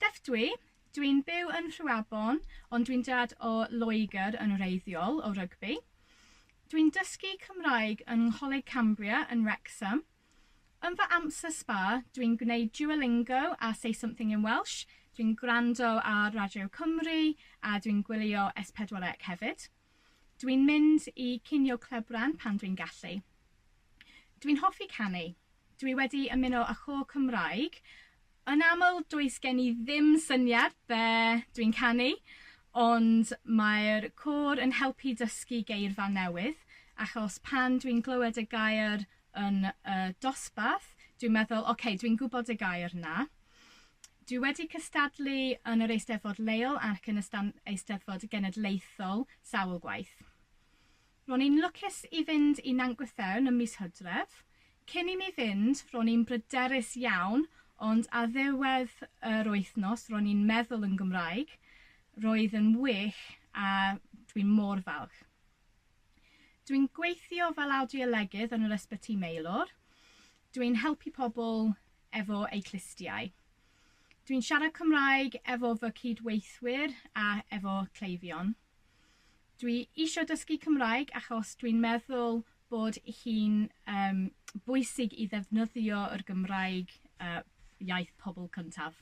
Steph dwi, dwi'n byw yn Rhuabon ond dwi'n dad o Loegr yn wreiddiol o rygbi. Dwi'n dysgu Cymraeg yng Ngholeg Cambria yn Wrecsam. Yn fy amser sba dwi'n gwneud Duolingo a Say Something in Welsh, dwi'n gwrando ar Radio Cymru a dwi'n gwylio S4C hefyd. Dwi'n mynd i cinio clebran pan dwi'n gallu. Dwi'n hoffi canu. Dwi wedi ymuno â chôr Cymraeg. Yn aml, does gen i ddim syniad be dwi'n canu, ond mae'r côr yn helpu dysgu geirfa newydd, achos pan dwi'n glywed y gair yn y dosbarth, dwi'n meddwl, ok, dwi'n gwybod y gair 'na. Dwi wedi cystadlu yn yr Eisteddfod leol ac yn y Eisteddfod Genedlaethol sawl gwaith. Ro'n i'n lwcus i fynd i Nant Gwythewn ym mis Hydref. Cyn i mi fynd, ro'n i'n bryderus iawn, ond ar ddiwedd yr wythnos ro'n i'n meddwl yn Gymraeg. Roedd yn wych a dwi'n mor falch. Dwi'n gweithio fel awdiolegydd yn yr Ysbyty Maelor. Dwi'n helpu pobl efo eu clustiau. Dwi'n siarad Cymraeg efo fy cyd-weithwyr a efo cleifion. Dwi eisiau dysgu Cymraeg achos dwi'n meddwl bod hi'n um, bwysig i ddefnyddio yr Gymraeg uh, iaith pobl cyntaf.